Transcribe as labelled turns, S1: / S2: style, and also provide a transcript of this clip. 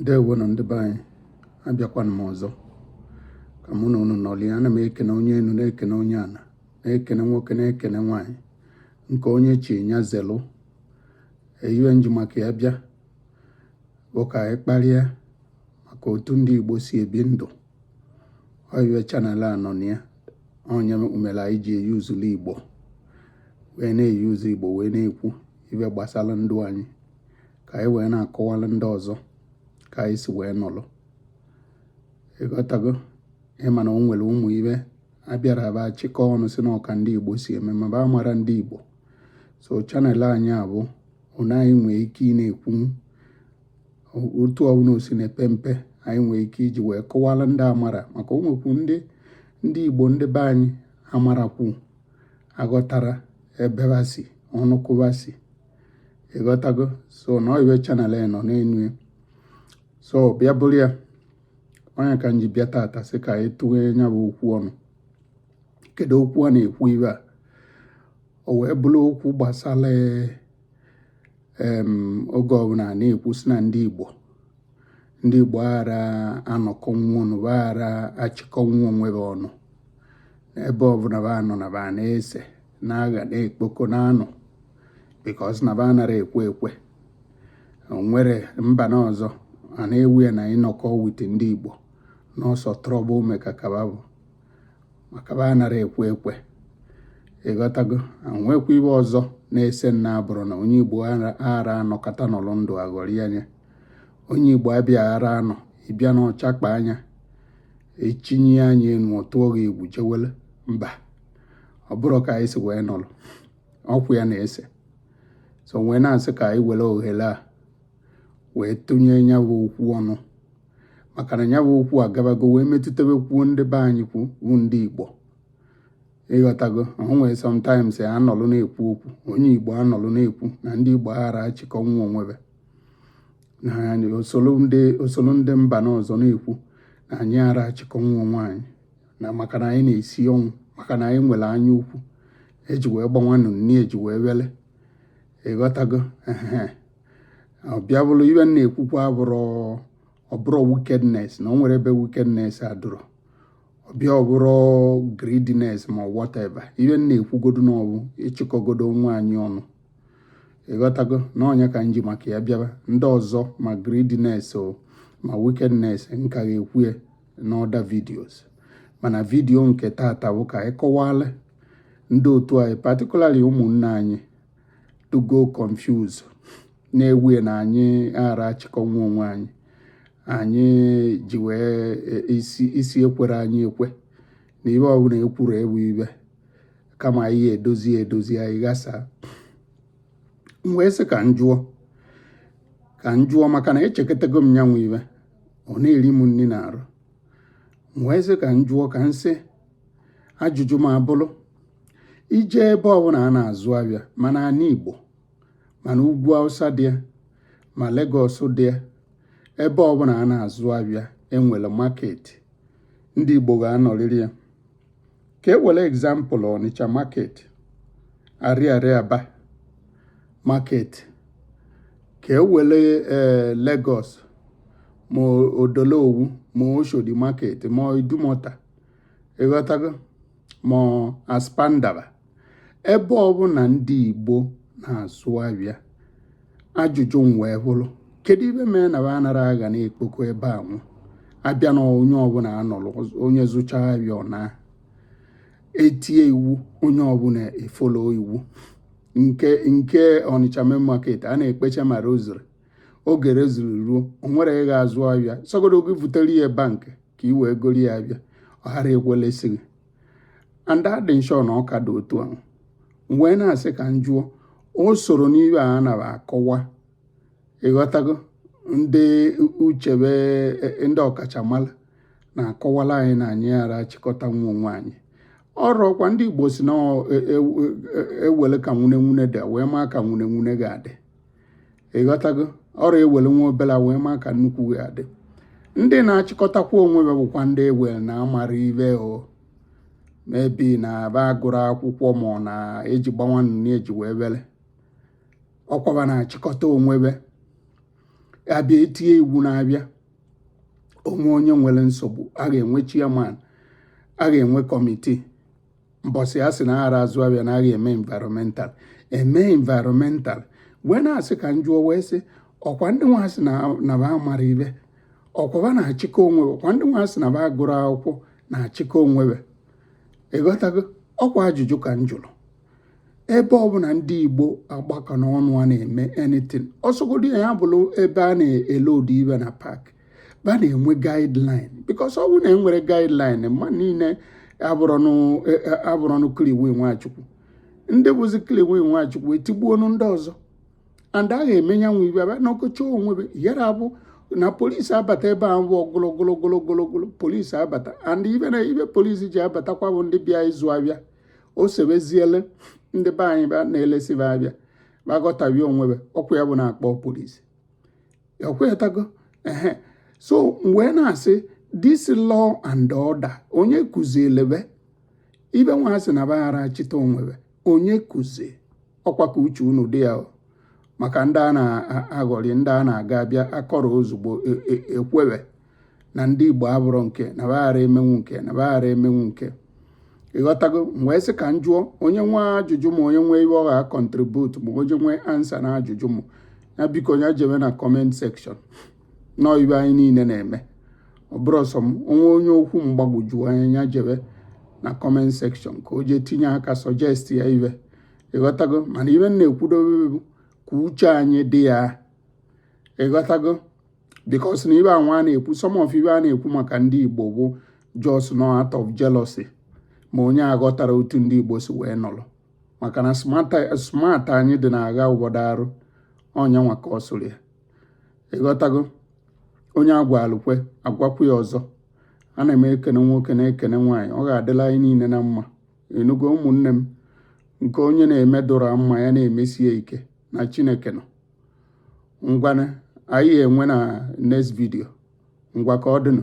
S1: ndewonụ ndị be anyị abịakwana m ọzọ ka mụ na unu nọlịa ana m ekene onye enu na-ekene onye ana na-ekene nwoke na-ekene nwaanyị nke onye chi nya zelụ ibe nji maka ya bịa bụ ka anyị kparịa maka otu ndị Igbo si ebi ndụ ọ ibe channel a nọ na ya ọ nya mere anyị ji euselụ igbo wee na-euse igbo wee na-ekwu ibe gbasara ndụ anyị ka anyị wee na-akọwala ndị ọzọ ka anyị si wee nọlụ ịghọtago ị ma na o nwere ụmụ ibe a bịara ba chịkọ ọnụ sị na ọ ka ndị igbo si eme ma ba amara ndị igbo so channel anyị a bụ na anyị nwee ike ị na-ekwu otu ọbụla o si na-epe mpe anyị nwee ike iji wee kọwala ndị amara maka o nwekwu ndị Igbo ndị be anyị amarakwu aghọtara ebe ba si ọnụkụ ba si ịghọtago so na ọ ibe channel a nọ n'enu ya so bịa bụrụ ya ọ nya ka m ji bịa tata sị ka anyị tụghe ya bụ okwu ọnụ kedu okwu a na-ekwu ibe a o wee bụrụ okwu gbasara oge ọbụna a na-ekwu sị na ndị Igbo ndị Igbo aghara anọkọnwu ọnụ aghara achịkọnwu onwe ba ọnụ n'ebe ọbụna ba nọ na ba na-ese na-agha na-ekpokọ na-anọ because na ba anara ekwe ekwe o nwere mba na ọzọ a na-ewe ya na ịnọkọ with ndị Igbo na ọ sọ trouble maka ka ba bụ maka ba anara ekwe ekwe ịghọtago nwekwa ibe ọzọ na-ese na ọ bụrụ na onye igbo ara anọkata nọlụ ndụ aghọrị anya onye igbo abịa ara anọ ị bịa na ọ chakpa anya echinye anya enu ọ tụọ gị egwu jewele mba ọ bụrụ ka anyị si wee nọlụ okwu ya na-ese so wee na-asị ka anyị were ohere a wee tụnye ya bụ okwu ọnụ maka na ya bụ okwu agabago wee metụtabekwuo ndị be anyị kwu wụ ndị Igbo ịghọtago o nwere sometimes ya anọlụ na-ekwu okwu onye Igbo anọlụ na-ekwu na ndị Igbo aghara achịkọnwu onwe ba na anyị osoro ndị osoro ndị mba n'ọzọ na-ekwu na anyị ara achịkọnwu onwe anyị na maka na anyị na-esi ọnwụ maka na anyị nwere anya ukwu eji wee gbanwanụ nni eji wee wele ịghọtago ọ bịa bụrụ ibe m na-ekwukwa abụrụ ọ bụrụ wickedness na o nwere ebe wickedness adụrụ ọ bịa ọ bụrụ greediness ma whatever ibe m na-ekwugodo nụ bụ ịchịkọgodo onwe anyị ọnụ ịghọtago na ọ nya ka nji maka ya bịaba ndị ọzọ ma greediness o ma wickedness m ka ga-ekwu ya na other videos mana video nke tata bụ ka anyị kọwala ndị otu anyị particularly ụmụnne anyị to go confuse na-ewu na anyị ghara achịkọnwu onwe anyị anyị ji wee e, isi isi ekwere anyị ekwe na ibe ọbụla ekwuru ewu ibe kama anyị edozi edozi anyị ghasa m wee sị ka m jụọ ka m jụọ maka na echekọtago m nyanwụ ibe ọ na-eri m nri na arụ m wee sị ka m jụọ ka m sị ajụjụ m abụrụ i jee ebe ọbụla a na-azụ abịa ma n'ana Igbo ma n'ugwu Hausa dị ya ma Lagos dị ya ebe ọbụla a na-azụ abịa e nwere market ndị Igbo ga-anọrịrị ya ka e were example Ọnịcha market Ariaria Aba market ka e were eh, Lagos ma Odo Olowu ma Oshodi market ma Idumota ịghọtago ma Aspamda ba ebe ọbụla ndị Igbo na-azụ abịa ajụjụ m wee bụrụ kedu ibe mere na ba anara agha na-ekpoko ebe a nwụ abịa na onye ọbụla anọrọ onye zụcha abịa ọ naa etie iwu onye ọbụla e-follow iwu nke nke Ọnịcha main market a na-ekpecha ma rosary oge rosary ruo o nwere ị ga-azụ abịa sọgodo gị vutere ya bank ka ị wee goro ya abịa ọ ghara ekwelesi gị and adị m sure na ọ ka dị otu ahụ m wee na-asị ka m jụọ o soro n'ibe a na-akọwa ịghọtago ndị uchebe e, ndị ọkachamara na-akọwala anyị na anyị ghara achịkọtanwu onwe anyị ọrọkwa ndị Igbo sị na ewele e, e, ka nwune nwune dị wee maa ka nwune nwune ga-adị ịghọtago ọrụ ewele nwa obere wee maa ka nnukwu ga-adị ndị na-achịkọtakwa onwe be bụkwa ndị ewere na amara ibe o mebi na ba agụrụ akwụkwọ ma ọ na-eji gbawa nnụnụ eji wee were ọkwa ba na-achịkọta onwe be a bịa etie iwu n'abịa o nwee onye nwere nsogbu a ga-enwe chairman a ga-enwe committee mbọsị a sị na aghara azụ abịa na a ga-eme environmental eme environmental wee na-asị ka m jụọ wee sị ọkwa ndị nwa sị na ba mara ibe ọkwa ba na-achịkọ onwe ọkwa ndị nwa sị na ba gụrụ akwụkwọ na-achịkọ onwe ịghọtago ọkwa ajụjụ ka m jụrụ ebe ọbụla ndị Igbo agbakọ n'ọnụ a na-eme anything ọsọgodo ya bụrụ ebe a na-eload ibe na park ba na-enwe guideline because ọ bụrụ na enwere guideline mma niile abụrọnụ Kiliwi Nwachukwu ndị bụzi Kiliwi Nwachukwu etigbuonu ndị ọzọ and a ga-eme ya nwe ibe abịa n'ọkọchị onwe be yara abụ na polisi abata ebe a bụ ogologologologologolo polisi abata and ibe na ibe polisi ji abatakwa bụ ndị bịa ịzụ abịa o sebeziele ndị be anyị na-elesi be abịa ba ghọtawie onwe be ọkwa ya bụ na-akpọ polisi ekwetago ehe so m wee na-asị this law and order onye kụziele be ibe nwa a sị na ba ghara achịta onwe be onye kụzi ọkwa ka uche unu dị ya maka ndị a na-aghọrị ndị a na-aga abịa akọrọ ozugbo e, e, ekwebe na ndị Igbo abụrụ nke na ba ghara emenwu nke na ba ghara emenwu nke ịghọtago m wee sị ka m jụọ onye nwe ajụjụ ma onye nwe ibe ọ ga-acontribute ma onye nwe answer na ajụjụ m ya biko ya jebe na comment section na ọ ibe anyị niile na-eme ọ bụrọ sọ m o nwee onye okwu m gbagwoju anya ya jebe na comment section ka o jee tinye aka suggest ya ibe ịghọtago mana ibe m na-ekwudobe bụ ka uche anyị dị ya ịghọtago because na ibe a nwa a na-ekwu some of ibe a na-ekwu maka ndị Igbo bụ just no out of jealousy ma onye aghọtara otu ndị Igbo si wee nọrọ maka na smart anyị dị na-agha obodo arụ onye nwa ka ọ sụrụ ya ịghọtago onye a gwalụ kwe a gwakwu ya ọzọ ana m ekene nwoke na-ekene nwaanyị ọ ga-adịla anyị niile na mma ị nụgo ụmụnne m nke onye na-eme dụra mma ya na-emesi ike na Chineke nọ ngwanụ anyị enwe na next video ngwa ka ọ dịnụ